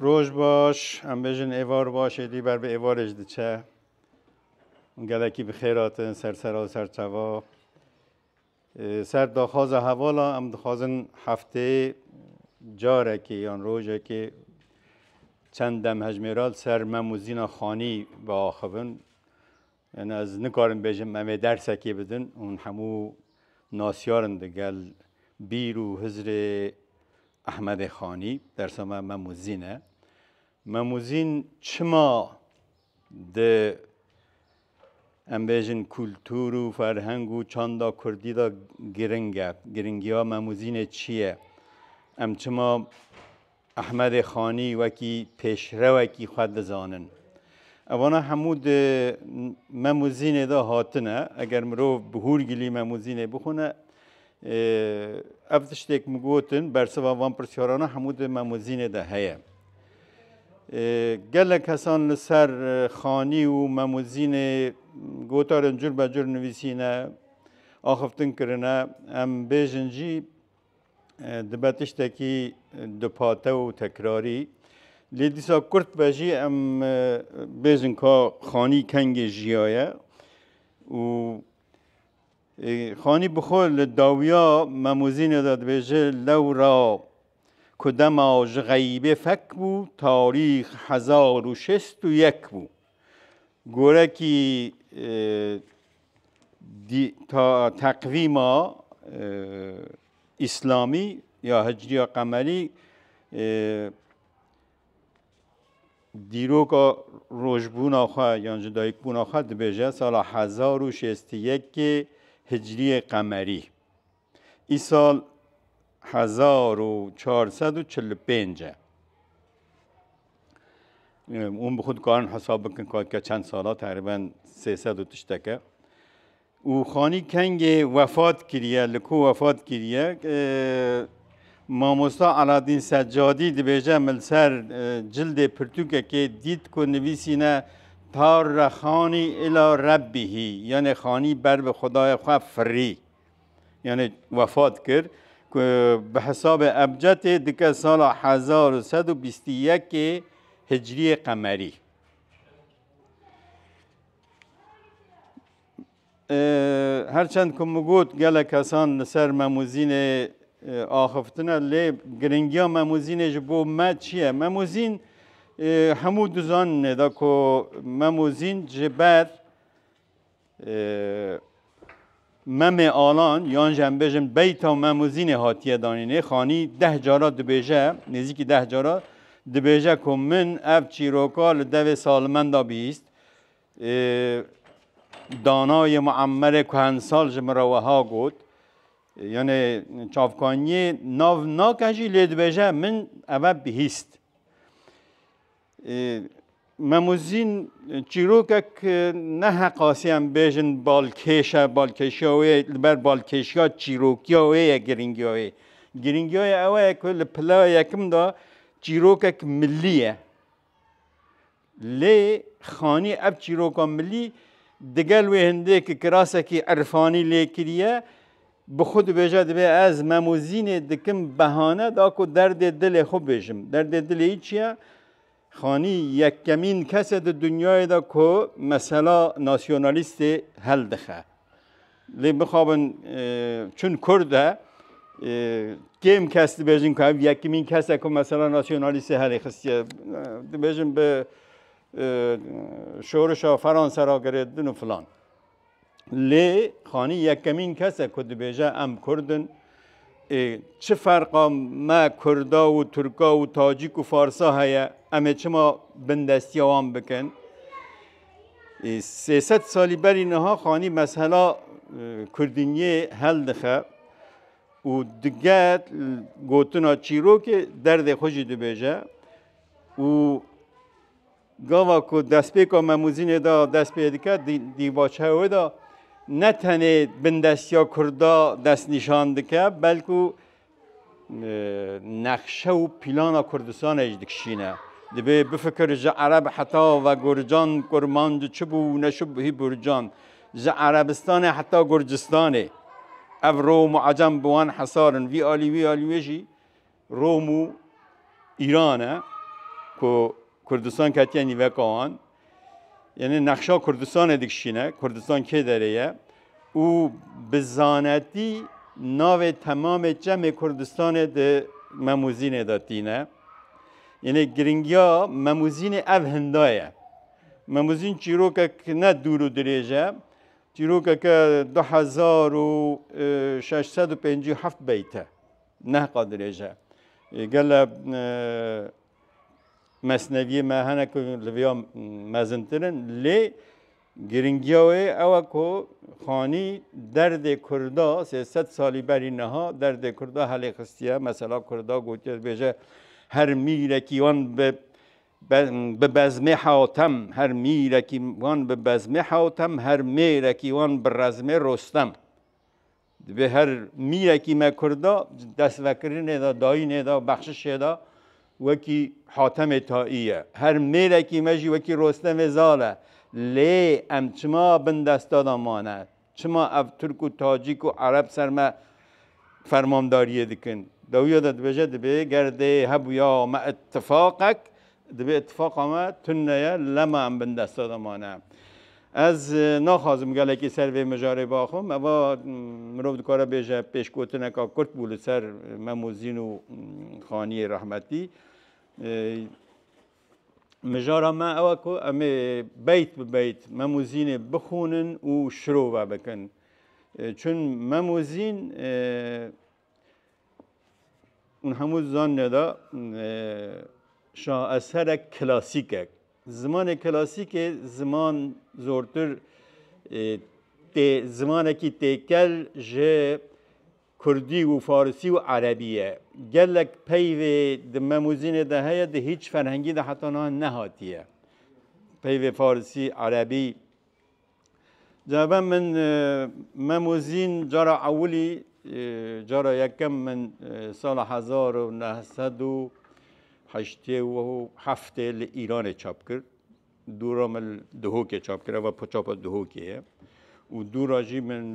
Roj baş, em bêjin êvar başê dî ber bi êvarê ji diçe. Gelekî bi xêr hatin ser sera û ser çava. Ser daxwaza hevala em dixwazin hefteyê carekê yan rojekê çend dem hejmêral ser mem û zîna xanî biaxivin. Yani ez nikarim bêjim em ê dersekê bidin hûn hemû nasyarin di gel Bîr û Hizrê Ehmedê Xanî. Dersa me Memûzîn e. Memûzîn çima di em bêjin kultur û ferheng û çanda kurdî de giring e? Giringiya Memûzînê çi ye? Em çima Ehmedê Xanî wekî pêşrewekî xwe dizanin. Evana hemû di Memûzînê de hatine. Eger mirov bi hûrgilî Memûzînê bixwine, ev tiştêk min gotin, bersiva van pirsyarana hemû di Memûzînê de heye. Gelek kesan li ser Xanî û Memûzînê gotarên cur be cur nivîsîne, axiftin kirine. Em bêjin jî Dibe tiştekî dupate û tekrarî. Lê dîsa kurt be jî em bêjin ka xanî kengê jiyaye û xanî bi xwe li dawiya memûzînê de dibêje lewra ku dema ji xeyîbê fek bû tarîx hezar û şêst û yek bû. Gorekî Teqvîma îslamî ya hicrîya qemerî dîroka rojbûna xwe yan ji dayikbûna xwe dibêje sala hezar û şêstî yekê hicrîyê qemerî. Îsal hezar û çar sed û çil û pênc e. Hûn bi xwe dikarin hesab bikin katke çend sala teqrîben sê sed û tişteke. û Xanî Kengê wefat kiriye li ku wefat kiriye mamosta Aladîn Seccadî dibêje min ser cildê pirtûkekê dît ku nivîsîne Tarre Xanî ila Rebbihî yanê Xanî ber bi Xwedaya xwe firî. Yanê wefat kir ku bi hesabê ebcedê dike sala hezar û sed û bîst û yekê hicrîyê qemerî. Her çend ku min got gelek kesan li ser Memûzînê axiftina lê giringiya Memûzînê ji bo me çi ye? Memûzîn hemû dizaninê de ku Memûzîn ji ber Memê Alan yan jî em bêjin beyta û memûzînê hatiye danînê. Xanî deh cara dibêje, nêzîkî deh cara dibêje ku min ev çîroka li devê salimenda bihîst. Danayê Muemmerê Kuhensal ji min re weha got, Yanê çavkaniyê nav nake jî lê dibêje min eve bihîst. Memuzîn çîrokek ne heqasî em bêjin balkêş e, balkêşiya wê ye li ber balkêşiya çîrokiya wê ye girîngiya wê. Girîngiya wê ew ye ku li pila yekim de çîrokek milî ye. Lê xanî ev çîroka milî digel wê hindêkî kirasekî irfanî lê kiriye, Bi xwe dibêje divê ez memozînê dikim behane da ku derdê dilê xwe bêjim. Derdê dilê î çiye? Xanî yekkemîn kes e di dinyayê de ku mesela nasyonalîstê heldixe. Lê bixabin çün kurd e kêm kes dibêjin ku ev yekkemîn kes e ku mesela nasyonalîstê helê xistiye. Dibêjin bi şorişa Feransa re girêdin û filan. Lê xanî yekemîn kes e ku dibêje em kurd in. Ê çi ferqa me kurda û turka û tacîk û farsa heye em ê çima bindestiya wan bikin. Ê sêset salî berî niha xanî mesela kurdîniyê hel dixe û diget gotina çîrokê derdê xwe jî dibêje û Gava ku destpêka Memûzînê de dest pê dike dîvaçeya wê de ne tenê bindestiya Kurda destnîşan dike belkû nexşe û pîlana Kurdistanê jî dikişîne. Divê bifikir ji Ereb heta Vegurcan, Kurmanc çi bû û ne çi bû hî Gurcan. Ji Erebistanê heta Gurcistanê ev Rom û Acem bi wan hesar in. Vî alî wî alî wê jî Rom û Îran e ku Kurdistan ketiye nîveka wan. Yenê nexşa Kurdistanê dikişîne, Kurdistan kê derê ye û bi zanetî navê temamê çemê Kurdistanê di Memûzînê de tîne. Yenê giringiya Memûzînê ev hinda ye. Memûzîn çîrokek ne dûr û dirêj e. Çîrokeke du hezar û şeş sed û pêncî û heft beyt e. Nehqa dirêj e. Gele mesneviyê me hene ku li vêya mezintir in lê giringiya wê ew e ku Xanî derdê Kurda sê sed salî berî niha derdê Kurda helê xistiye. Mesela Kurda gotiye dibêje her mîrekî wan bi bi bezmê Hewtem, her mîrekî wan bi bezmê Hewtem, her mêrekî wan bi rezmê Rostem. Divê her mîrekî me Kurd de di destvekirinê de, dayînê de, bexşişê de wekî Hatemê Taî ye. Her mêrekî me jî wekî Rostemê Zal e. Lê em çima bin desta de mane? Çima ev Tirk û Tacîk û Ereb ser me fermandariyê dikin? Dawîya de dibêje, dibê ger dê hebûya me îtîfaqek Divê îtîfaqa me tund neye, lema em bindesta de mane. Ez naxwazim gelekî ser vê mijarê biaxivim. Eva mirov dikare bêje pêşgotineka kurt bû li ser Memûzîn û Xaniyê rehmetî. Mijara me ew e ku em ê beyt bi beyt Memûzînê bixwînin û şirove bikin. Çün Memûzîn Hemû zanîne de şaeserek klasîk e. Zimanê klasîkê ziman zortir tê zimanekî têkel ji kurdî û farisî û erebî ye. Gelek peyvê di memûzînê de heye di hîç ferhengî de heta niha nehatiye. Peyvê farisî, erebî Caba min Mem û Zîn cara ewilî cara yekem min sala hezar û neh sed û heştê û heftê li Îranê çap kir. Dû ra min Duhokê çap kir, eva çapa Duhokê ye. Û dû ra jî min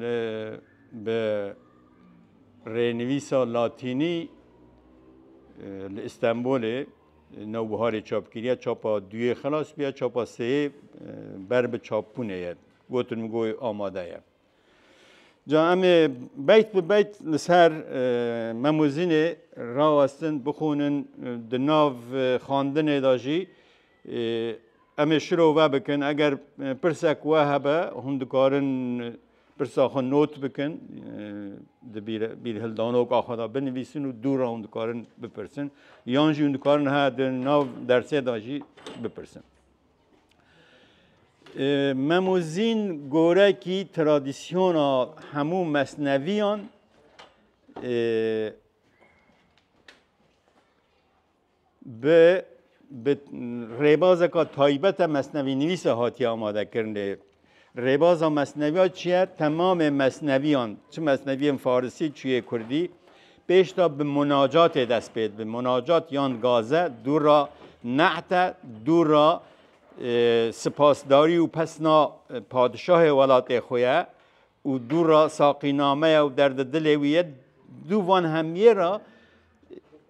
bi rênivîsa latînî li Îstenbolê Newbiharê çapkiriya çapa duyê xilas biya, çapa seyê ber bi çapbûnê ye. Gotin min goy amade ye. Ca em ê beyt bi beyt li ser Memozînê rawestin, bixwînin di nav xandinê de jî em ê şiro vebikin. Eger pirsek we hebe hûn dikarin Pirsa xwe not bikin, di bîrhildanoka xwe de binivîsin û dû re hûn dikarin bipirsin yan jî hûn dikarin he di nav dersê de jî bipirsin. Memûzîn gorekî tradisyona hemû mesneviyan Bi bi rêbazeka taybete mesnevînivîse hatiye amadekirinê. Rêbaza mesneviya çi ye? Temamê mesneviyan, çi mesneviyên farisî, çi yê kurdî, pêşda bi munacatê dest pê dibi. Munacat yan gaze, dû ra nehte, dû ra e, sipasdarî û pesna padişahê welatê xwe ye. û dû ra saqînameya û derdê dilê wî ye, dû van hemiyê ra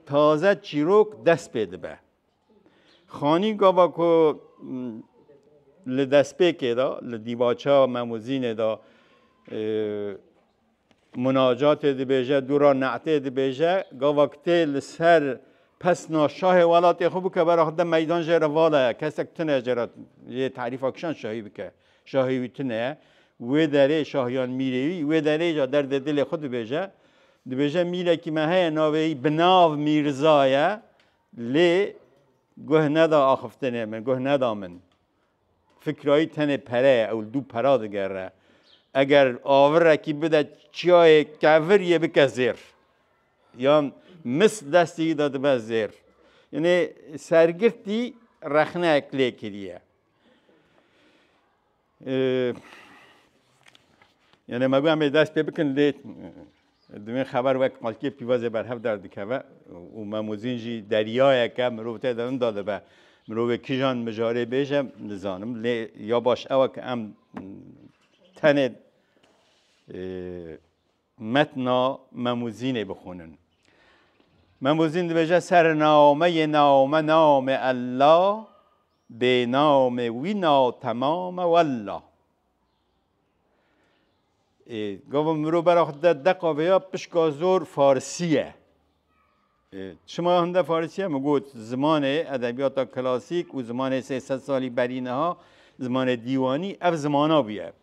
taze çîrok dest pê dibe. Xanî gava ku li destpêkê de li dîvaça Memûzînê de munacatê dibêje, dû ra ne'tê dibêje, gava ku tê li ser pesna şahê welatê xwe bike, bera xwe de meydan jê re vala ye, kesek tune jê re yê tarîfa kişan şahî bike. Şahî wî tune ye. Wê derê şahiyan mîrê wî, wê derê jî derdê dilê xwe dibêje. Dibêje mîrekî me heye navê wî bi nav Mîrza ye lê guh neda axiftinê min, guh neda min. Fikra wî tenê pere ye, ew li dû pera digere. Eger avirekî bide çiyayê kevir yê bike zêr. Yan mis destê wî de dibe zêr. Yanê sergirtî rexneyek lê kiriye. Yenê me got em ê dest pê bikin lê di wê xeber wek xelkê pîvazê berhev derdikeve û memozîn jî deryayeke mirov tê de inda dibe. Mirovê kijan mijarê bêje nizanim lê ya baş ew e ku em tenê Metna Memûzînê bixwînin. Memûzîn dibêje Sername yê name name Ella, bêname wî na temame wella. Ê gava mirov bera xwe dide deqa vê ya pişka zor farisî ye. Çima hinde farisî ye? Min got zimanê edebiyata klasîk û zimanê sê sed salî berî niha zimanê dîwanî ev zimana bûye.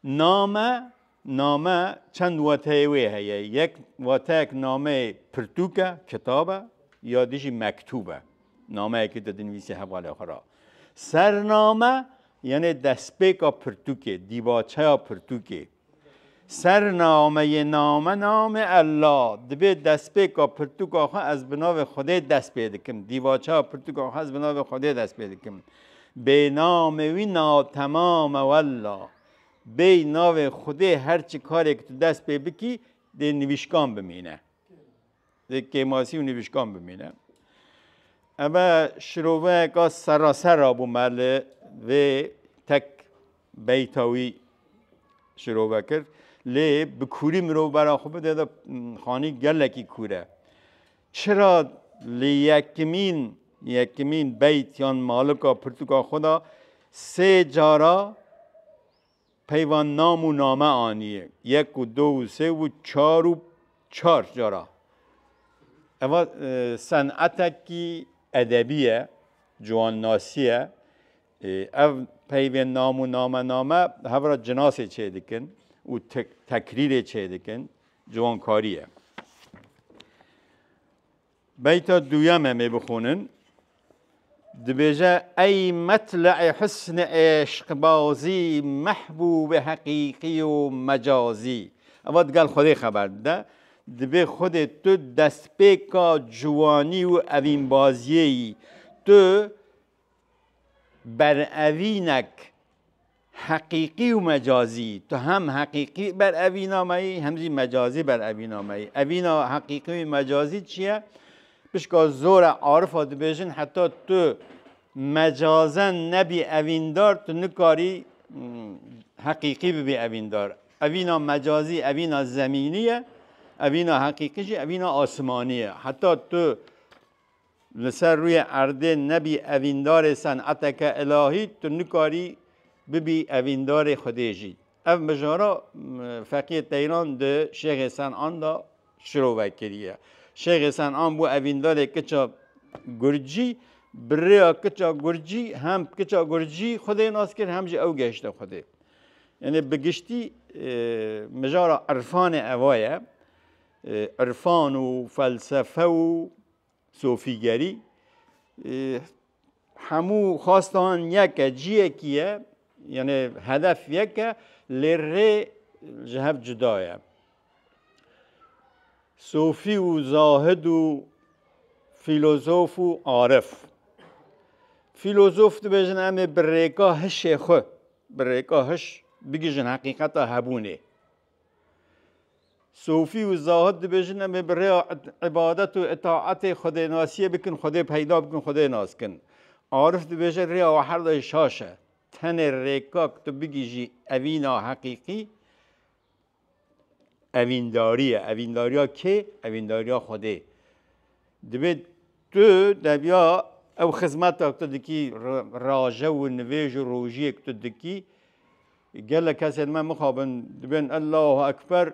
Name, Name çend wateyê wê heye. Yek wateyek nameyê pirtûk e, kitab e ya di jî mektûb e. Nameyekî tu dinivîsî hevalê xwe ra. Sername yanê destpêka pirtûkê, dîvaçeya pirtûkê. Sernameyê name namê Ella. Dibê destpêka pirtûka xwe ez bi navê Xwedê dest pê dikim. Dîvaçeya pirtûka xwe ez bi navê Xwedê dest pê dikim. Bêy namê wî na temam e wella. Bêy navê Xwedê her çi karêk tu dest pê bikî dê nivîşkan bimîne. Dê kêmasî û nivîşkan bimîne. Ebe şiroveyeka seraser a bû me li vê tek beyta wî şirove kir. Lê bi kûrî mirov bera xwe bide de xanî gelekî kûr e. Çira li yekimîn yekimîn beyt yan malika pirtûka xwe de sê cara peyva nam û name aniye, yek û du û sê û çar û çar cara. Eva senetekî edebî ye, ciwannasî ye. Ev peyvên nam û namename hev re cinasê çêdikin û tekrîrê çêdikin, ciwankarî ye. Beyta duyeme mê bixwînin, dibêje ey metle'ê husn ê eşqbazî, mehbûbê heqîqî û mecazî. Eva digel xwedê xeber dide, dibê xwedê tu destpêka ciwanî û evînbaziyê yî. Tu berevînek heqîqî û mecazî, tu hem heqîqî berevîna me yî hem jî mecazî berevîna me yî. Evîna heqîqî û mecazî çi ye? Pişka zora arifa dibêjin heta tu mecazen nebî evîndar tu nikarî heqîqî bibî evîndar. Evîna mecazî evîna zemînî ye, evîna heqîqî jî evîna asimanî ye. Heta tu Li ser rûyê erdê nebî evîndarê seneteke ilahî, tu nikarî bibî evîndarê Xwedê jî. Ev mijara Feqiyê Teyran di Şêxê Senan de şirove kiriye. Şêxê Senan bû evîndarê kiça Gurcî, bi rêya kiça Gurcî hem kiça Gurcî Xwedê nas kir hem jî ew gehişte Xwedê. Yanî bi giştî mijara irfanê eva ye. Irfan û felsefe û sofîgerî hemû xwestan yek e, ciyekî ye, yanê hedef yek e lê rê ji hev cuda ye. Sofî û zahid û fîlozof û arif. Fîlozof dibêjin em ê bi rêka hişê xwe, bi rêka hiş bigihîjin heqîqeta hebûnê. Sofî û Zahid dibêjin em ê bi rêya îbadet û îtaetê xwedênasiyê bikin, xwedê peyda bikin, xwedê nas kin. Arif dibêje rêya we her dayî şaş e. Tenê rêka ku tu bigihîjî evîna heqîqî evîndarî ye. Evîndariya kê? Evîndariya xwedê. Divê tu deviya ew xizmeta ku tu dikî, raje û nivêj û rojiyê ku tu dikî, Gelek kesên me mixabin dibên Ellahu Ekber,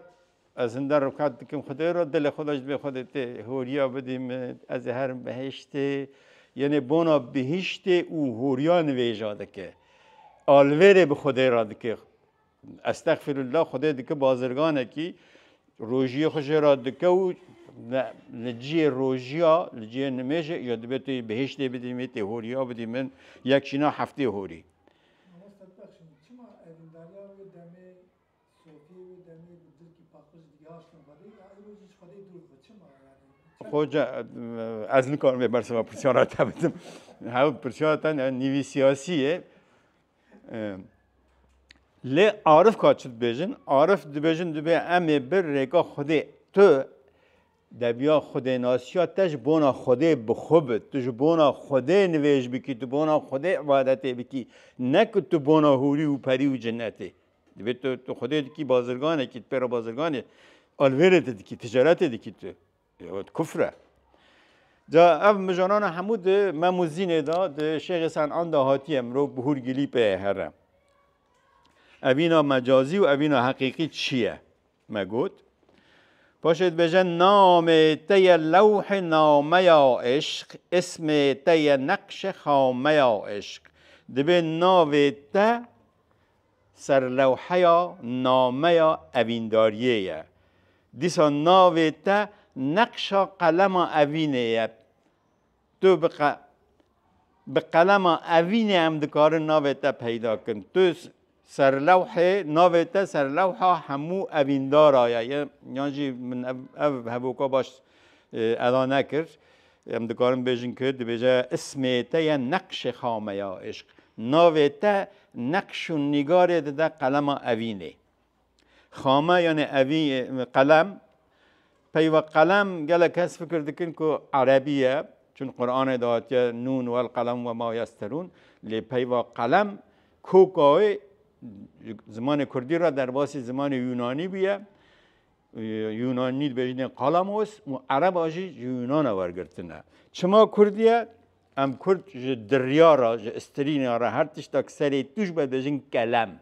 ez hinde rûkat dikim Xwedê re, dilê xwe de ji dibê Xwedê tê horiya bidî min, ez ê herim behiştê. Yenê bona bihiştê û horiya nivêja dike. Alvêrê bi Xwedê re dike. Estexfirullah Xwedê dike bazirganekî, rojiyê xwe jê re dike û li cihê rojiya, li cihê nimêjê ya dibê tu yê bihiştê bidî min, tu yê horiya bidî min, yek jîna heftê horî. Mamoste Pexşîn, çima evîndariya wê demê, sofiyê wê demê bi dilkî paqij digihaştin xwedê û îroj jî ji xwedê dûr xwe? Çima yanî? Xoca, ez nikarim vê bersiva pirsiyan re te bidim. Hev pirsiyan te ne nîvî siyasî ye. Lê arif ka çi dibêjin? Arif dibêjin dibê em ê bi rêka xwedê tu Debiya xwedênasiya te ji bona Xwedê bi xwe bi. Tu ji bona Xwedê nivêj bikî, tu bona Xwedê ibadetê bikî, ne ku tu bona hûrî û perî û cinnetê. Divê tu tu Xwedê dikî bazirganekî, tu pê re bazirganê, alvêrê te dikî, ticaretê dikî tu. Ew di kufr e. Ca ev mijanana hemû di mem û zînê de, di Şêxê Sen'an de hatiye, mirov bi hûr gilî pê ye here. Evîna mecazî û evîna heqîqî çi ye? Me got, Paşê dibêje namê te ye lewhê nameya îşq, îsmê te ye neqşê xameya îşq. Dibê navê te ser lewheya nameya evîndariyê ye. Dîsa navê te neqşa qelema evînê ye. Tu bi qe bi qelema evînê em dikarin navê te peyda kin. Tu serlewhê navê te serlewha hemû evîndara ye ye yan jî min ev ev hevoka baş eda nekir. Em dikarin bêjin ki dibêje ismê te ye neqşê xameya îşq. Navê te neqş û nîgarê dide qelema evînê. Xame yanê evî qelem peyva qelem gelek kes fikir dikin ku erebî ye çun Quranê de hatiye nûn wel qelem we ma yesterûn lê peyva qelem kokawê zimanê Kurdî re derbasî zimanê Yûnanî bûye. Yûnanî dibêjinê qalamos û ereba jî ji Yûnana wergirtine. Çima Kurdiye? Em Kurd ji diryara, ji istirîna re her tiştek serê tûj be dibêjin kelem.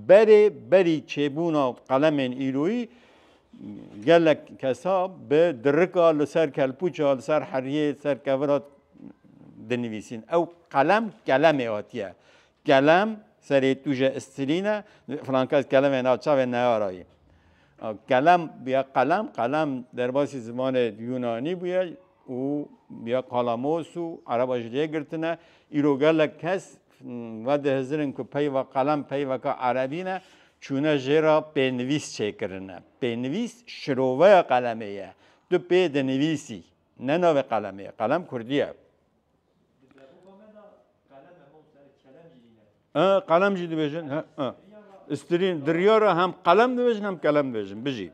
Berê berî çêbûna qelemên îroyî gelek kesa bi dirika li ser kelpûça li ser heriyê li ser kevira dinivîsîn. Ew qelem kelemê hatiye. Kelem serê tuje istilîne frankez kelemê na çavê neyarayî. Kelem bûye qelem qelem derbasî zimanê Yunanî bûye û bûye kalamos û ereba ji lê girtine. Îro gelek kes Vedihizirin ku peyva qelem peyveke erebî ne, çûne jê re pênivîs çêkirine. Pênivîs şiroveya qelemê ye. Tu pê dinivîsî, ne navê qelemê ye. Qelem kurdî ye. Qelem jî dibêjin. Stirîn, diryara hem qelem dibêjin hem kelem dibêjin. Bijî.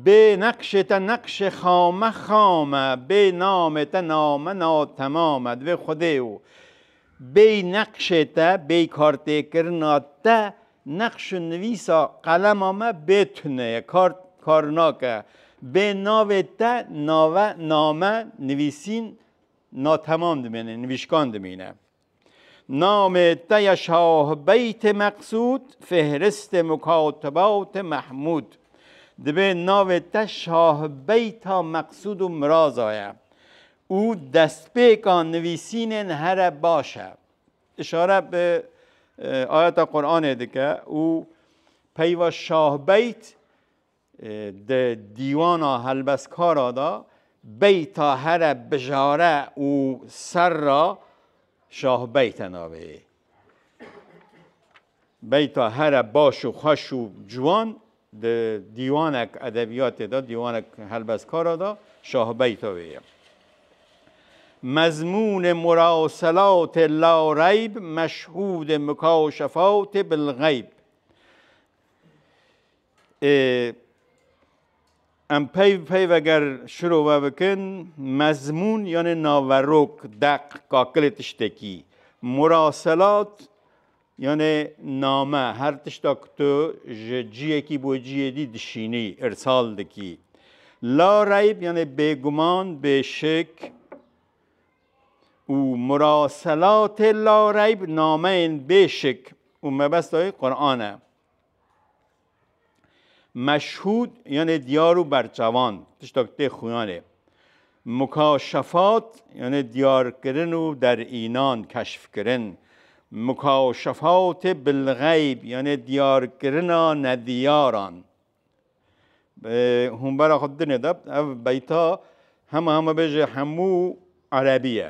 Bê neqşê te neqşê xame xame, bê namê te name na temame. Divê Xwedê û bêy neqşê te, bêy kartêkirina te, neqş û nivîsa qelema me bê tune ye, kar kar nake. Bê navê te nave, name, nivîsîn na temam dimîne, nivîşkan dimîne. Namê te ye Şahbeytê Meqsûd, Fêhristê Mukatibatê Mehmûd. Divê navê te Şahbeyta Meqsûd û Miraza ye û destpêka nivîsînên here baş e. Îşare bi ayeta Quranê dike û peyva Şahbeyt Di dîwana helbestkara de beyta here bijare û serra şahbeyte navê yê. Beyta here baş û xweş û ciwan di dîwanek edebiyatê de, dîwanek helbestkara de şahbeyta wê ye. Mezmûnê mura û selatê la reyb, meşhûdê mika û şefawtê bil xeyb. Ê em peyv peyv eger şiro we bikin mezmûn yanê naverok deq kakilê tiştekî muraselat yanê name her tişta ku tu ji ciyekî bo ciyê dî dişînî îrsal dikî. La reyb yanê bêguman bêşik û muraselatê la reyb nameyên bêşik û mebesta wî Quran e. Meşhûd yanê diyar û berçavan tişta ku tê xuyanê. Mukaşefat yanê diyarkirin û derînan, keşfkirin. Mukaşefatê bilxeyb yanê diyarkirina nediyaran. Hûn bera xwe dinê de ev beyta hema hema bêje hemû erebî ye.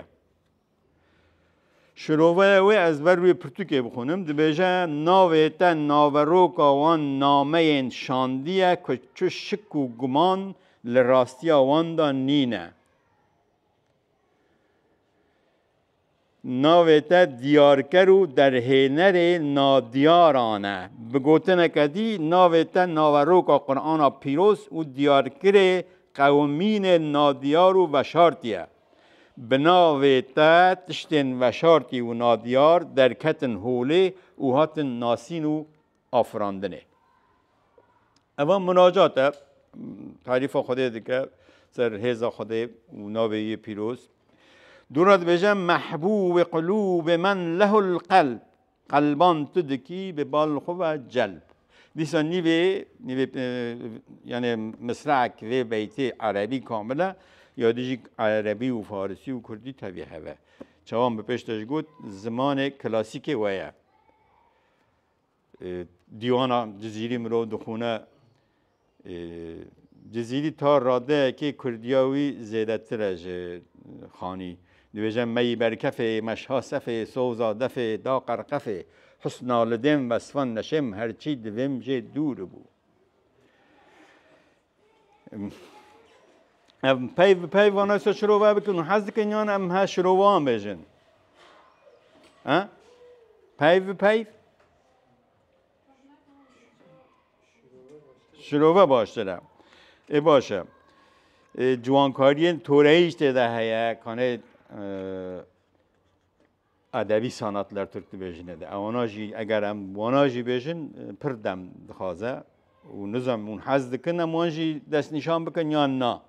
Şiroveya wê ez ber wê pirtûkê bixwînim, dibêje navê te naveroka wan nameyên şandiye ku çi şik û guman li rastiya wan de nîne. Navê te diyarker û derhênerê nadîyaran e. Bi gotineke dî navê te naveroka Qur'ana pîroz û diyarkerê qewimînên nadîyar û veşartî ye. Bi navê te tiştên veşartî û nadiyar derketin holê û hatin nasîn û afirandinê. Eva munacat e, tarîfa Xwedê dike, ser hêza Xwedê û navê yê pîroz. Dûra dibêje mehbûbê qulûbê men lehul qelb. Qelban tu dikî bi bal xwe ve celb. Dîsa nîvê nîvê yanê misraek vê beytê erebî kamil e ya di jî erebî û farisî û kurdî tevî heve. Çavan bi pêş te ji got zimanê klasîkê we ye. Dîwana cizîrî mirov dixwune Cizîrî ta radeyekê kurdiya wî zêdetir e ji xanî. Dibêje meyî berkefê, meşha sefê, soza defê, da qerqefê. Husna li dêm vesfan neşêm her çî di vêm jê dûr bû. Ev peyv bi peyv vana se şirove bikin û hez dikin yan em he şirovan bêjin. He? Peyv bi peyv? Şirove baştir e. Ê baş e. Ciwankariyên toreyî tê de heye kanê edebî sanatler Türk dibêjine de. Ewana jî eger em wana jî bêjin pir dem dixwaze û nizam hûn hez dikin em wan jî destnîşan bikin yan na.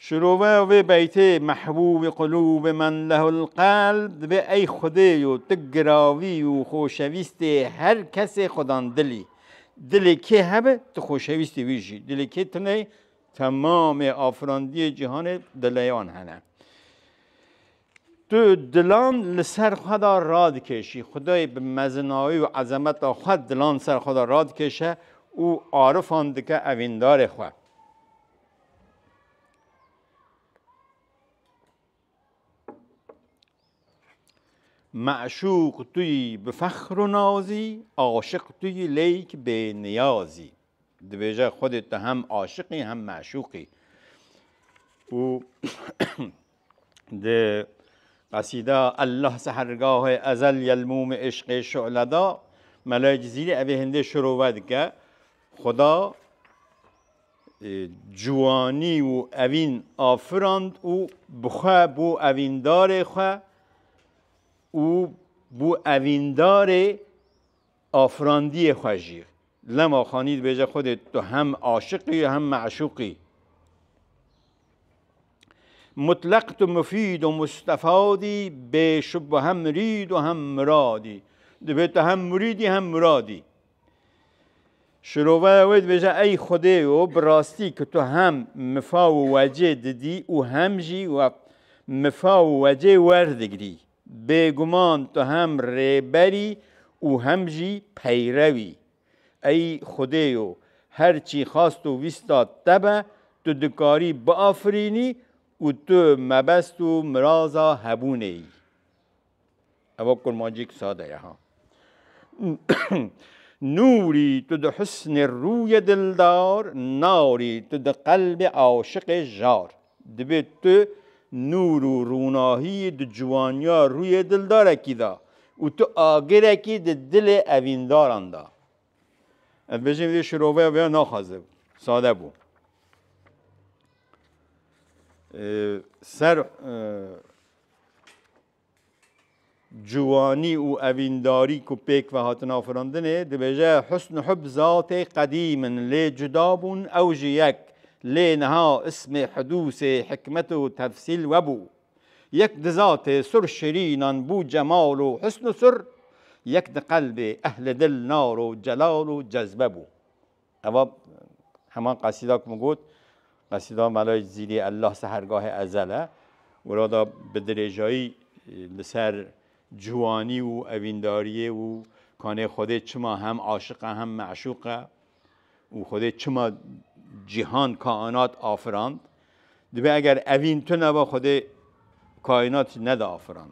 Şiroveya vê beytê Mehbûbî qulûbê men lehul qelb divê ey Xwedê yo tu giravî û xoşewîstê her kesê xwe dan dilî. Dilê kê hebe tu xoşewîstê wî jî dilê kê tune temamê afirandiyê cîhanê dileyan hene. Tu dilan li ser xwe de radikêşî. Xwedayê bi mezinayî û ezemeta xwe dilan ser xwe de radikêşe û arifan dike evîndarê xwe. Meşûq tu yî bi fexr û nazî, aşiq tu yî lêyk bê niyazî. Dibêje Xwedê tu hem aşiqî hem meşûqî. û di qesîda Allah sehergahê ezel yelmûm êşqê şu'leda Mela Cizîrî evê hindê şirove dike Xuda ciwanî û evîn afirand û bi xwe bû evîndarê xwe û bû evîndarê Afirandiyê xwe jî Lema Xanî dibêje Xwedê tu hem aşiq î û hem me'şûq î. Mutleq tu mufîd û mustefad î, bêşubo hem mirîd û hem mirad î. Divê tu hem murîd î hem murad î. Şiroveya wê dibêje Ey Xwedê yo bi rastî ku tu hem mifa û wecê didî û hem jî we mifa û wecê werdigirî. Bêguman tu hem rêber î û hem jî peyrew î. Ey Xwedê yo, her çî xast û wîsta te be, tu dikarî biafirînî û tu mebest û miraza hebûnê yî. Ewa kurmancîk sade ye ha. Nûrî tu di husnê rûyê dildar, narî tu di qelbê aşiqê jar. Dibê tu nûr û rûnahiyî di ciwaniya rûyê dildarekî de û tu agirekî di dilê evîndaran de. Ez bêjim vê şiroveya vêya naxwaze bû, sade bû. Ser Ciwanî û evîndarî ku pêk ve hatin afirandinê dibêje husn û hub zatê qedîm in lê cuda bûn ew ji yek. Lê niha ismê hidûsê hikmet û tefsîl webû. Yek di zatê sur şirînan bû cemal û husn û sur, yek di qelbê ehli dil nar û celal û cezbe bû. Eva heman qesîda ku min got, qesîda Melayê Zîlê Ellah Sehergahê Ezel e. Wilo da bi dirêjayî li ser ciwanî û evîndariyê û kanê Xwedê çima hem aşiq e hem meşûq e û Xwedê çima cîhan, kainat afirand. Dibe eger evîn tuneba Xwedê kainat jî neda afirand.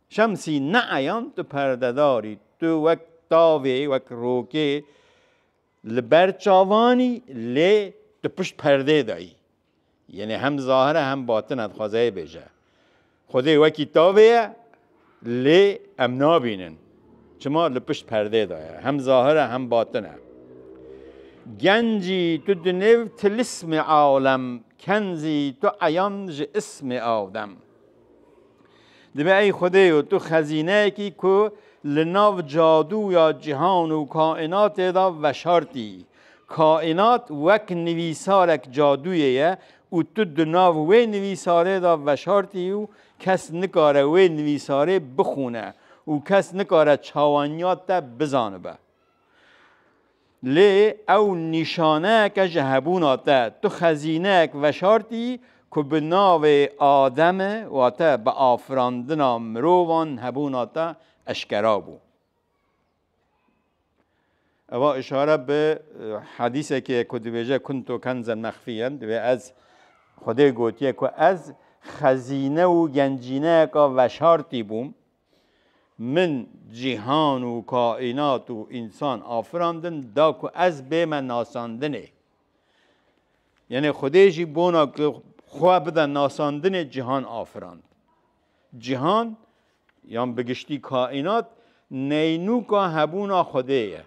Şemsî neeyan tu perdedar î, tu wek tavê, wek rokê li ber çavan î lê tu pişt perdê de î. Yenê hem zahir e hem batin e dixwaze hê bêje. Xwedê wekî tavê ye lê em nabînin. Çima li pişt perdê de ye. Hem zahir e hem batin e. Gencî tu di nêv tilismê awlem, kenzî tu eyan ji ismê awdem. Divê ey Xwedê yo tu xezîneyekî ku li nav cadû ya cîhan û kaînatê de veşartî. Kaînat wek nivîsarek cadûyê ye û tu di nav wê nivîsarê de veşartî û kes nikare wê nivîsarê bixwîne û kes nikare çawaniya te bizanibe. Lê ew nîşaneyeke ji hebûna te. Tu xezîneyek veşartî ku bi navê Ademê, wate bi afirandina mirovan hebûna te eşkera bû. Eva îşare bi hedîsekê ku dibêje kuntu kenzen mexfîyen, divê ez Xwedê gotiye ku ez xezîne û gencîneyeka veşartî bûm. Min cîhan û kaînat û însan afirandin da ku ez bême nasandinê. Yanê Xwedê jî bona ku xwe bide nasandinê cîhan afirand. Cîhan yan bi giştî kaînat neynûka hebûna Xwedê ye.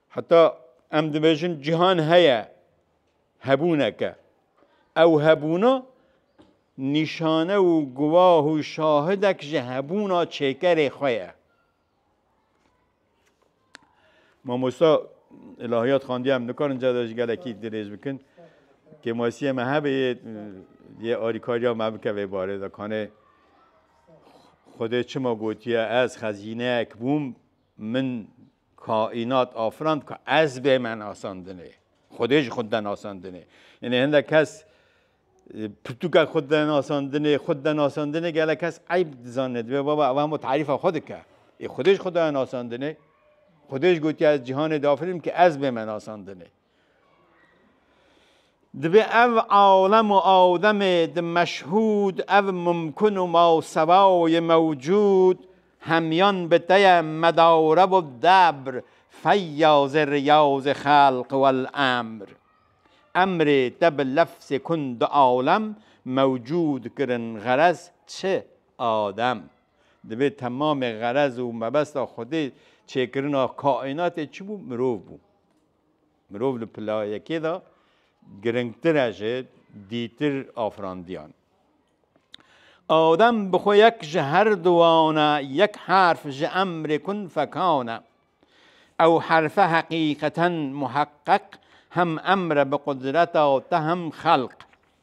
Heta em dibêjin cîhan heye hebûneke. Ew hebûna nîşane û guwah û şahidek ji hebûna çêkerê xwe ye. Mamosta ilahiyat xandiye em nikarin cade ji gelekî dirêj bikin. Kêmasiyê me hebe yê yê alîkariya me bike vê barê de kanê Xwedê çima gotiye ez xezîneyek bûm Min kaînat afirand ku ez bê me nasandinê. Xwedê ji xwe de nasandinê. Yanî hindek kes pirtûka xwe de nasandinê, xwe de nasandinê gelek kes eyb dizane dibê baba ev hemû tarîfa xwe dike. Ê Xwedê ji xwe de nasandinê. Xwedê jî gotiye ez cîhanê diafirînim ku ez bê me nasandinê. Divê ev alem û ademê di meşhûd ev mumkun û masewa yê mewcûd hemyan bi te ye medarev û debr feyazê riyazê xelq wel emr. Emrê te bi lefzê kun du alem mewcûd kirin xerez çi adem. Divê temamê xerez û mebesta xwedê çêkirina kaînatê çi bû mirov bû. Mirov li pila yekê de giringtir e ji dîtir afirandiyan. Adem bi xwe yek ji her du wan e, yek herf ji emrê kun fekan e. Ew herfe heqîqeten muheqqeq hem emr e bi qudreta te hem xelq.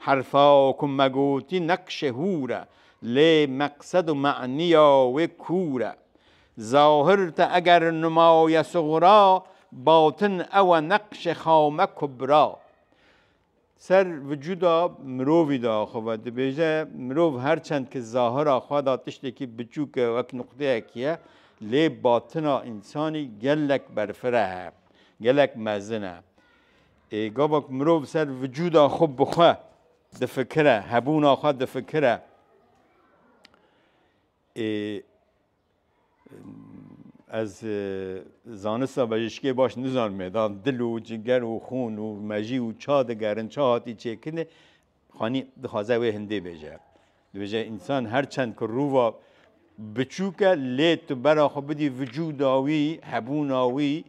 Herfa ku me gotî neqşê hûr e, lê meqsed û manîya wê kûr e. Zahir te eger numa ye suxra, batin ew e neqşê xame kubra. Ser vücuda mirovî de xwe vedibêje, mirov her çend ki zahira xwe de tiştekî biçûk e, wek nuqteyekî ye, lê batina însanî gelek berfireh e, gelek mezin e. Ê gava ku mirov ser vücuda xwe bi xwe difikire, hebûna xwe difikire, ê ez zanista bejişkê baş nizanimê, da dil û ciger û xûn û mejî û ça digerin, ça hatî çêkirinê, Xanî dixwaze wê hindê bêje. Dibêje însan her çend ku rûva biçûk e lê tu bera xwe bidî vücuda wî, hebûna wî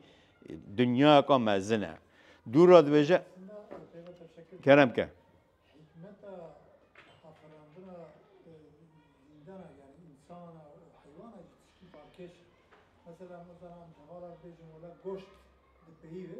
dinyayeka mezin e. Dû re dibêje kerem ke. Mesela mesela hevala bejim ola goşt di peyî ve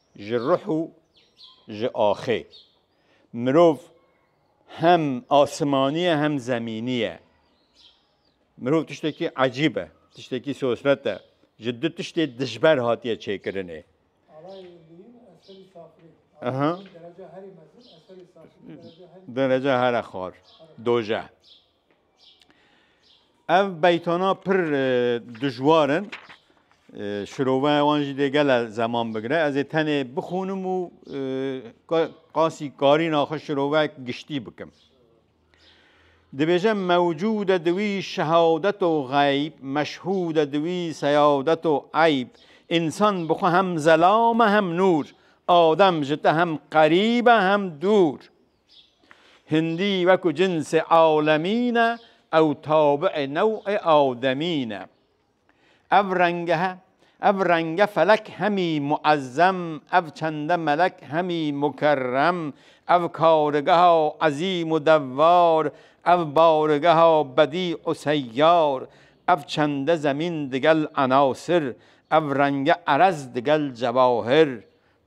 Ji ruh û ji axê. Mirov hem asimanî ye hem zemînî ye. Mirov tiştekî ecîb e, tiştekî sosret e. Ji du tiştê dijber hatiye çêkirinê. Dereca here xar, dojeh. Ev beytana pir dijwar in. Şiroveya wan jî dê gele zeman bigire. Ez ê tenê bixûnim û qasî karîna xwe şirovek giştî bikim. Dibêjim mewcûde diwî şehawdeto xeyb, meşhûde diwî seyawdeto eyb. Însan bi xwe hem zelam e hem nûr. Adem ji te hem qerîb e hem dûr. Hindî wekû cinsê alemî ne ew tabiê newê ademî ne. Ev rengehe, ev renge felek hemî muezzem, ev çende melek hemî mukerrem, ev karigeha ezîm û devar, ev barigeha bedî û seyyar, ev çende zemîn digel enasir, ev renge erez digel cewahir,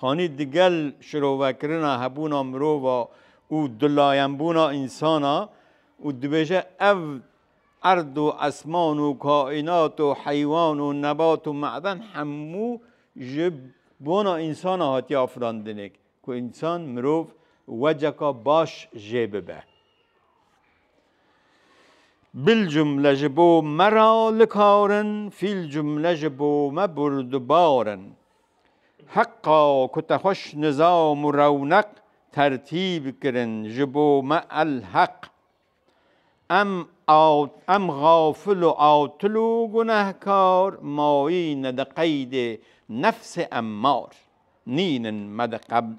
Xanî digel şirovekirina hebûna mirova û dulayenbûna însan a û dibêje ev erd û esman û kaînat û heywan û nebat û meden hemû ji bona însan a hatiye afirandinê ku însan, mirov weceka baş jê bibe. Bil cumle ji bo me ra li kar in, fîl cumle ji bo me burdubar in. Heqa ku te xweş nizam û rewneq tertîb kirin ji bo me el heq. Em em xafil û atil û gunehkar mayîne di qeydê nefsê emmar, nînin me di qebd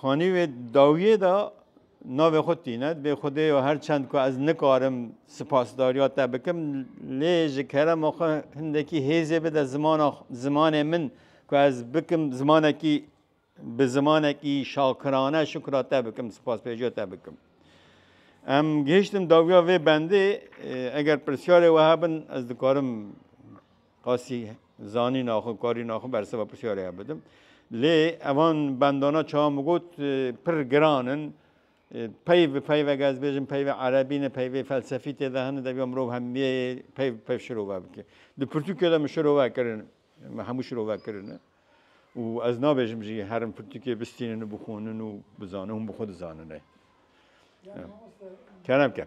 Xanî wê dawiyê de navê xwe tîne dibê Xwedê yo her çend ku ez nikarim sipasdariya te bikim lê ji kerema xwe hindekî hêzê bide zimana zimanê min ku ez bikim zimanekî bi zimanekî şakirane şukra te bikim sipaspêjiya te bikim. Em gihiştim dawiya vê bendê eger pirsyarê we hebin ez dikarim Qasî zanîna xwe, karîna xwe berseva pirsyarê hev bidim. Lê evan bendana çawa min got pir giran in. Peyv bi peyvek ez bêjim peyvê erebî ne peyvê felsefî tê de hene deviya mirov hemiyeyê peyv bi peyv şirove bike. Di pirtûkê de min şirove kirin min hemû şirove kirine û ez nabêjim jî her in pirtûkê bistînin û bixwînin û bizanin hûn bi xwe dizanin rê. Kerem ke.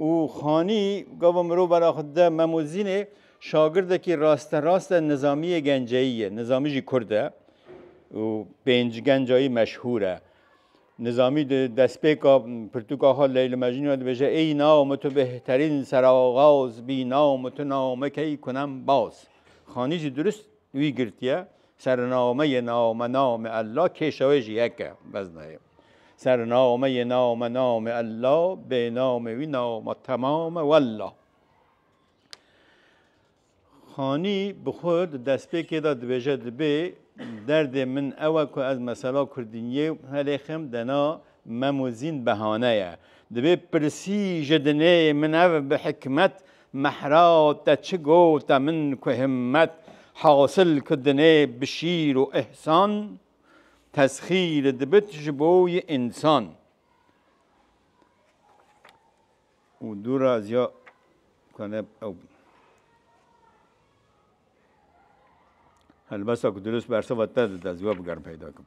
Û Xanî gava mirov bera xwe dide Memozînê şagirdekî rasterast-e Nizamiyê Genceyî ye. Nizamî jî kurd e û pênc genca yî meşhûr e. Nizamî di destpêka pirtûka xwe Leyl û Mecnûn ya dibêje Ey nao mi tu bêhterîn seraxaz bî nao mi tu nao mi key kunem baz. Xanî jî dirust wî girtiye, Serinao mi yê nao mi nao mi Ella kêşa wê jî yek e, beznayê. Ser name yê name name Ella, bê name wî name temame wella. Xanî bi xwe di destpêkê de dibêje dibê derdê min ew e ku ez mesela kurdîniyê helêxim dena memozîn behane ye. Dibê pirsî ji dinê min ev bi hikmet Mehra te çi gote min ku himmet Hasil ku dinê bi şîr û îhsan Tesxîr dibit ji bo yê însan. û dû ra ez ya kane ew helbesta ku dirust berseva te dide ez wê bigerim peyda kim.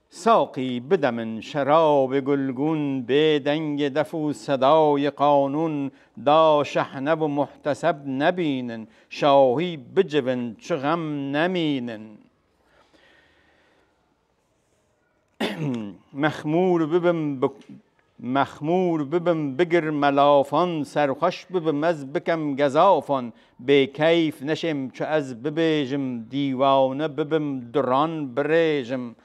Saqî bide min şerabê gulgûn Bê dengê def û sedayê qanûn Da şehnev û muhteseb nebînin Şahî bicivin çi xem nemînin Mexmûr bibim bi Mexmûr bibim bigir me lafan Serxweş bibim ez bikem gezafan Bêkeyf neşêm çi ez bibêjim Dîwane bibim duran birêjim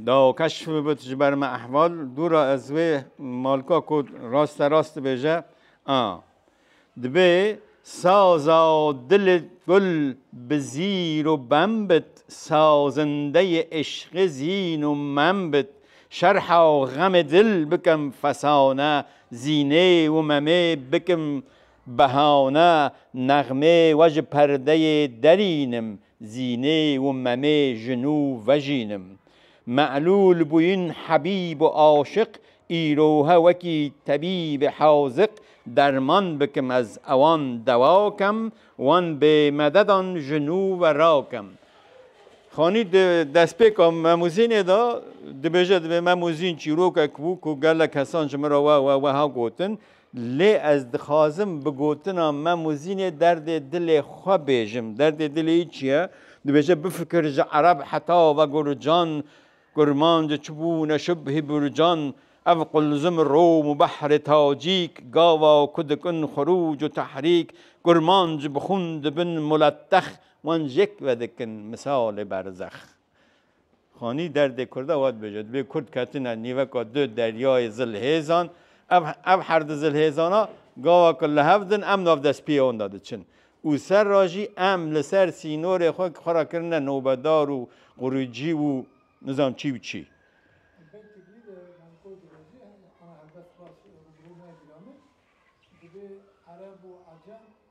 Da keşf bibit ji ber me ehval Dûra ez wê malka ku raste rast dibêje a. Dibe saza dilê gul bi zîr û bem bit, sazindeyê îşqê zîn û mem bit, şerha xemê dil bikim fesane, zînê û memê bikim behane, nexmê we ji perdeyê derînim, Zînê û memê jinû vejînim. Me'lûl bûyin hebîb û aşiq îrohe wekî tebîb ê haziq derman bikim ez ewan dewa kem wan bê mededan jinû ve rakim. Xanî di destpêka Memû Zînê de dibêje dibê Memû Zîn çîrokek bû ku gelek kesan ji min re we we weha gotin, Lê ez dixwazim bi gotina me Muzînê derdê dilê xwe bêjim. Derdê dilê wî çi ye? Dibêje bifikir ji ereb heta ve gurcan, kurmanc, çibûn, şibh, hîbûrcan, ev qulzim, rom û behrê tacîk, gava û ku dikin xurûc û tehrîk, kurmanc, bixûn dibin muletex, wan jêk vedikin misalê berzex. Xanî derdê kurda wa dibêje, dibê kurd ketine nîveka du deryayê zilhêzan, ev ev her du zilhêzana gawa ku li hev din em navdestpiyê wan de diçin û serra jî em li ser sînorê xwe xwe re kirine nobedar û quricî û nizanim çî û çî. Thank you.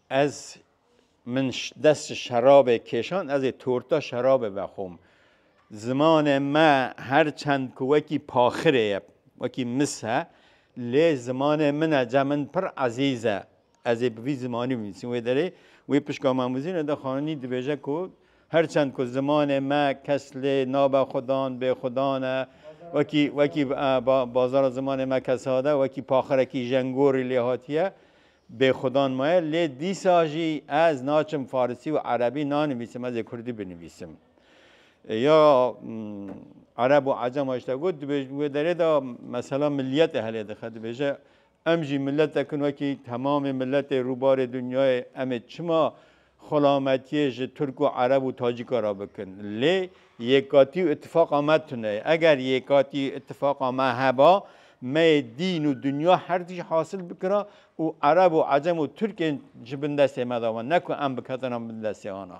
Ez min dest ji şerabê kêşand, ez ê torta şerabê vexwim. Zimanê me her çend ku wekî paxirê ye, wekî mis e, lê zimanê min e, cem min pir ezîz e. Ez ê bi vî zimanî binivîsim. Wê derê wê pişka me Muzî Neda Xanî dibêje ku her çend ku zimanê me kes lê nabe xudan, bêxudan e, wekî wekî bazara zimanê me kesada, wekî paxirekî jenngorî lê hatiye. Bêxudan maye lê dîsa jî ez naçim farisî û erebî nanivîsim ez ê kurdî binivîsim. Ya ereb û ecem heşta got dibêjin wê derê de mesela milîyetê helê dixe dibêje em jî miletekin wekî temamê miletê rûbarê dinyayê em ê çima xulametiyê ji Tirk û Ereb û Tacîka re bikin. Lê yekatî û îtîfaqa me tune ye. Eger yekatî û îtîfaqa me heba, me yê dîn û dinya her tişt hasil bikira û Ereb û Ecem û Tirkên ji bin destê me de wan, ne ku em biketina bin destê wan a.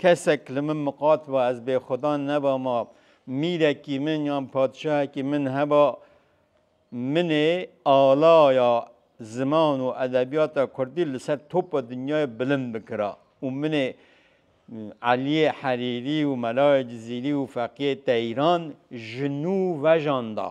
Kesek li min miqat ba ez bêxwedan nebama, mîrekî min yan padişahekî min heba, min ê alaya ziman û edebiyata kurdî li ser topa dinyayê bilind bikira û min ê Eliyê Herîrî û Melayê Cizîrî û Feqiyê Teyran ji nû vejanda.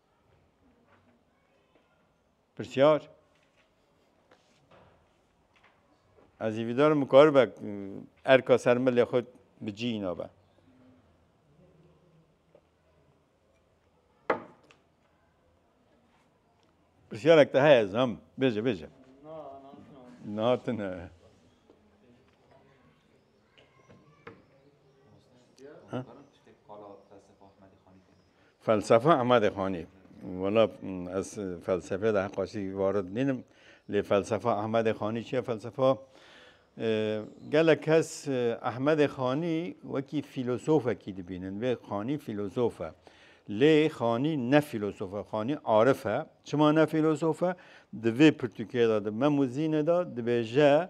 Pirsyar, Ez ê vîdarim bikaribe erka ser milê xwe bi cî îna be. Pirsyarek te heye zam bêje bêje. Na tune. Felsefa Ahmedê Xanî. Wala ez felsefê de heqa jî varid nînim. Lê felsefa Ahmedê Xanî çi ye? Felsefa gelek kes Ahmedê Xanî wekî fîlosofekî dibînin. Vê Xanî fîlosof e. Lê Xanî ne fîlosof e. Xanî arif e. Çima ne fîlosof e? Di vê pirtûkê de di Memûzînê de dibêje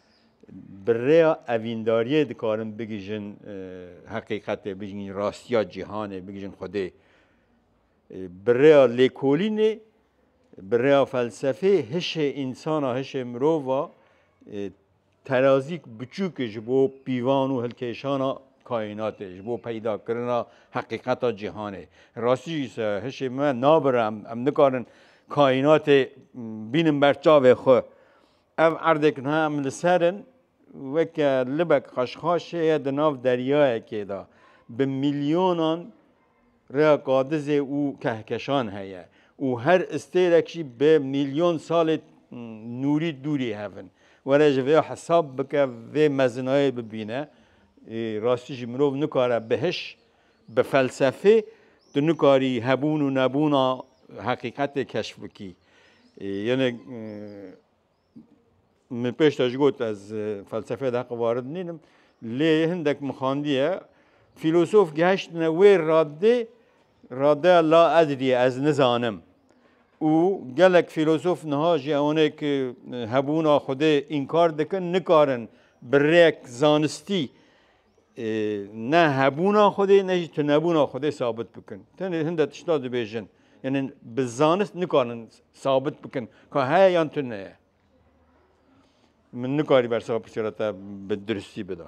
Bi rêya evîndariyê dikarin bigihîjin heqîqetê, bigihîjin rastiya cîhanê, bigihîjin Xwedê. Bi rêya lêkolînê, bi rêya felsefê hişê însan a, hişê mirov a terazîk biçûk e ji bo pîvan û hilkêşana kaînatê, ji bo peydakirina heqîqeta cîhanê. Rastî jî se hişê me nabire, em nikarin kaînatê bînin ber çavê xwe. Ev erdek niha em li ser in, weke libek xweşxaşê ye di nav deryayekê de. Bi milyonan rêya qadizê û kehkeşan heye û her istêrek jî bi milyon salê nûrî dûrî hev in. Were ji vê hesab bike vê mezinayê bibîne. Rastî jî mirov nikare bi hiş Bi felsefê tu nikarî hebûn û nebûna heqîqetê keşf bikî. Yenê min pêş te ji got ez felsefeyê de heqê warid nînim. Lê hindek min xandiye fîlosof geheştine wê radê radeya la edrîye ez nizanim. û gelek fîlosof niha jî ewanê ki hebûna xwedê înkar dikin nikarin bi rêyek zanistî ne hebûna Xwedê ne jî tunebûna Xwedê sabit bikin. Tenê hinde tişta dibêjin. Yanî bi zanist nikarin sabit bikin ka heye yan tune ye. Min nikarî bersa pirsiyara te bi duristî bida.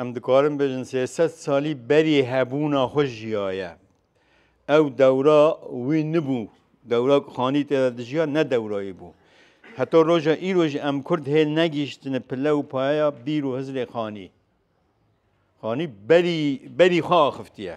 Em dikarin bêjin sê sed salî berî hebûna xwe jiyaye. Ew dewra wî nibû. Dewra ku Xanî tê de dijiya ne dewra wî bû. Heta roja îro jî em Kurd hê negihîştine pile û payeya bîr û hizrê Xanî. Xanî berî berî xwe axiftiye.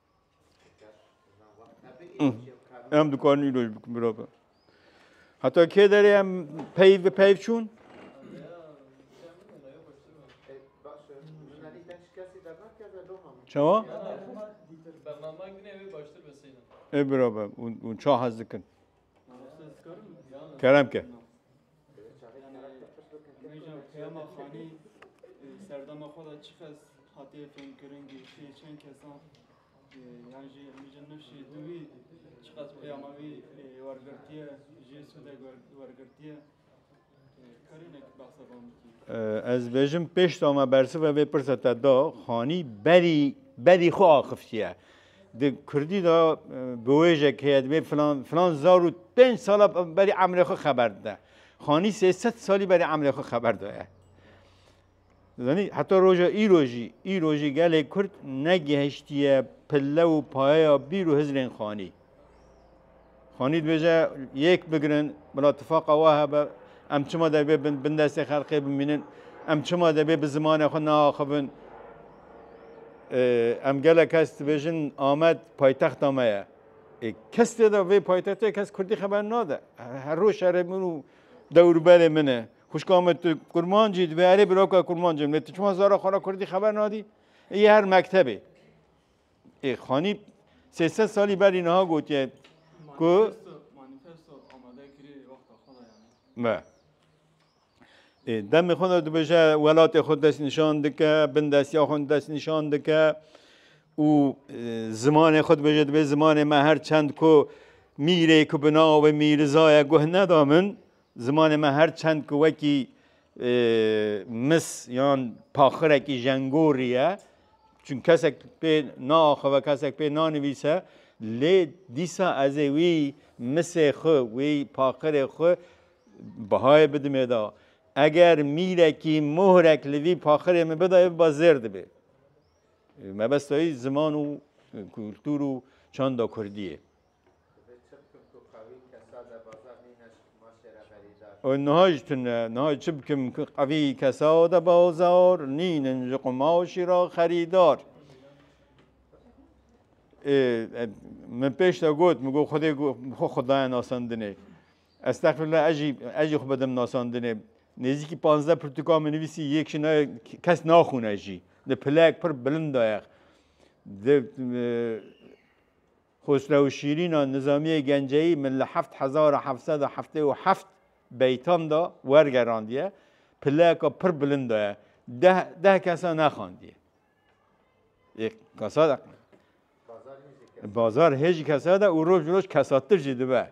Em dikarin îroj bikin bira be. Heta kê derê em peyv bi peyv çûn? Çawa? E bira be, hûn ça hez dikin. Kerem ke. Serdama xwe da çiqas hatiye fêmkirin ki şê çend kesan yan jî hemîca nifşî dûî çiqas peyama wî wergirtiye jê sude wergirtiye Ez bêjim pêşta me bersiva vê pirsa te da, xanî berî berî xwe axiftiye. Di Kurdî da biwêjek heye divê filan filan zar û pênc sala berî emrê xwe xeber dide. Xanî sêsed salî berî emrê xwe xeber daye. Zanî heta roja îro jî îro jî gelê Kurd negihiştiye pille û payeya bîr û hizrên xanî. Xanî dibêje yek bigirin bila tifaqa wa hebe em çima debê bin bin destê xelqê bimînin em çima debê bi zimanê xwe neaxivin em gele kes dibêjin Amed paytexta me ye. Kes tê de vê paytextê kes Kurdî xeber nade. Her roj şerê min û dewrberê min e. Xuşka me tu kurmancî divê erê biroka kurmancê min. Tu çima zara xwe ra kurdî xeber nadî? Yê her mektebê. Ê xanî sêsed salî berî niha gotiye ku Me. Ê demê xwe de dibêje welatê xwe dest nîşan dike, bin destiya xwe dest nîşan dike û zimanê xwe dibêje dibê zimanê me her çend ku mîrê ku bi navê mîrizaya guh neda min Zimanê me her çend ku wekî mis yan paxirekî jengorî ye, çun kesek pê naaxive, kesek pê nanivîse, lê dîsa ez ê wî misê xwe, wî paxirê xwe bihayê bidim êda. Eger mîrekî muhrek li vî paxirê min bidayê biba zêr dibê. Mebesta wî ziman û kultur û çanda kurdî ye. Divê çi bikim ku qewî kesa de baza mîne ji kumaşê re berîdar? Ew niha jî tune. Niha çi bikim ku qewî kesa de bazar nînin ji qumaşê re xerîdar? Ê min pêş de got, min got Xwedê xwe xwedaya nasandinê. Estexfirullah ez jî ez jî xwe bidim nasandinê. Nêzîkî panzdeh pirtûkan min nivîsî yek ji navê kes naxwîne jî. Di pileyek pir bilind de ye. Di Xosrew û Şîrîna Nizamiyê Genceyî min li heft hezar a heft sed a heftê û heft beytan de wergerandiye, pileyeka pir bilind de ye. Deh deh kesa nexandiye. Ê kesa de Bazar hê jî kesa de û roj bi roj kesatir jî dibe.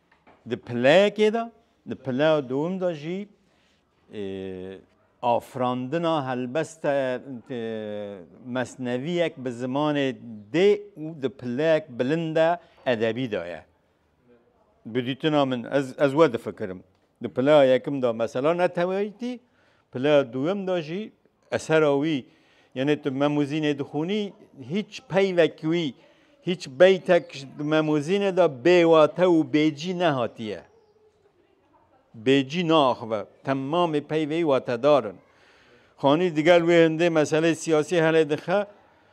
Di pileyekê de, di pileya dûm de jî afirandina helbeste mesneviyek bi zimanê dê û di pileyek bilind de edebî de ye. Bi dîtina min ez ez we difikirim. Di playa yekim de mesela neteweyîtî, playa duyem de jî esera wî yenê tu memûzînê dixwînî hîç peyvek wî hîç beytek di memûzînê de bêwate û bêcî nehatiye. Bêcî naaxive. Temamê peyveyî watedar in. Xanî digel wê hindê meseleyê siyasî helê dixe.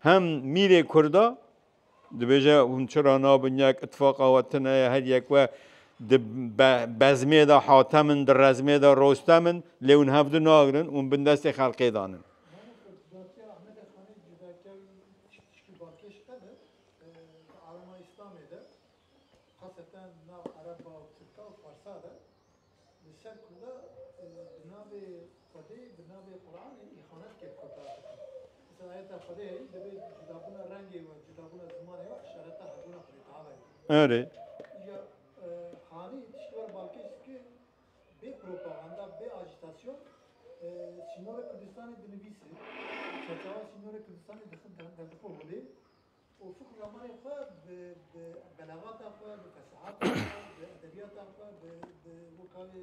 Hem mîrê Kurda dibêje hûn çira nabin yek îtifaqa we tune ye her yek we di bezmê de hatem in di rezmê de rostem in lê hûn hev du nagirin hûn bin destê xelkê dan in. Li ser ku da bi navê Xwedê, bi navê Quranê îxanet kir kotar dikin. Dîsa ayeta Xwedê herî divê cudabûna rengê we, cudabûna zimanê we îşareta hebûna Xwedê Teala ye. Erê. Îja hanî tişt were balkêş dike bê propaganda, bê ajîtasyon sînorê Kurdistanê dinivîse, çerçewa sînorê Kurdistanê dixin derdixwe holê. Ufuk Namarê xwe bi bi belagata xwe, bi fesehata xwe, bi edebiyata xwe, bi bi weka wê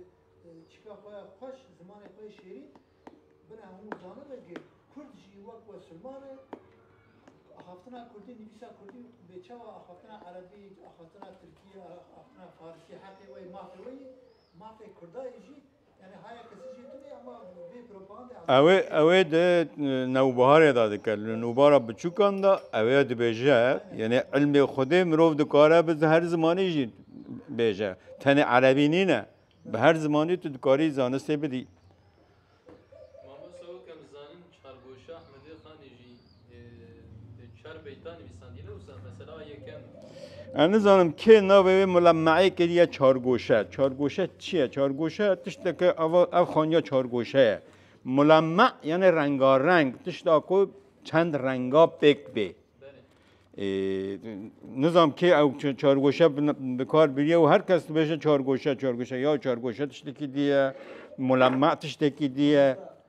çika xwe ya xweş, zimanê xwe yê şêrîn bina hemû zanin e ke kurd jî wek we silman e. Axaftina kurdî, nivîsa kurdî bê çawa axaftina erebî, axaftina tirkî, axaftina farisî heqê we yê, mafê we yê. Mafê kurdayê jî Ew ê di newbiharê de dike, li nûbara biçûkan de ew ê dibêje, yanî ilmê Xwedê mirov dikare bi her zimanî jî bêje, tenê erebî nîne, bi her zimanî tu dikarî zanistê bidî. Mamosta weke em dizanin Çargoşa Ehmedê Xanê jî Ez nizanim kê navê wê mulemme'ê kiriye çargoşe. Çargoşe çi ye? Çargoşe tişteke ava ev xaniya çargoşe ye. Mulemme yani rengareng tişta ku çend renga pêk bê. Nizam kê ew çargoşe bikar biriye û her kes dibêje çargoşe çargoşe ya çargoşe tiştekî diye, mulemme tiştekî diye.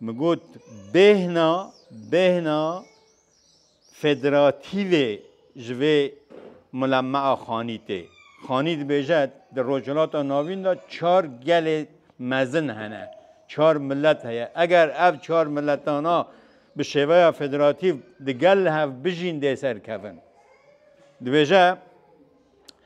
Min got bêhna bêhna federatîvê ji vê mulemea xanî tê. Xanî dibêje di Rojhilata Navîn de çar gelê mezin hene, çar milet heye. Eger ev çar miletana bi şêveya federatîv di gel hev bijîn dê serkevin. Dibêje.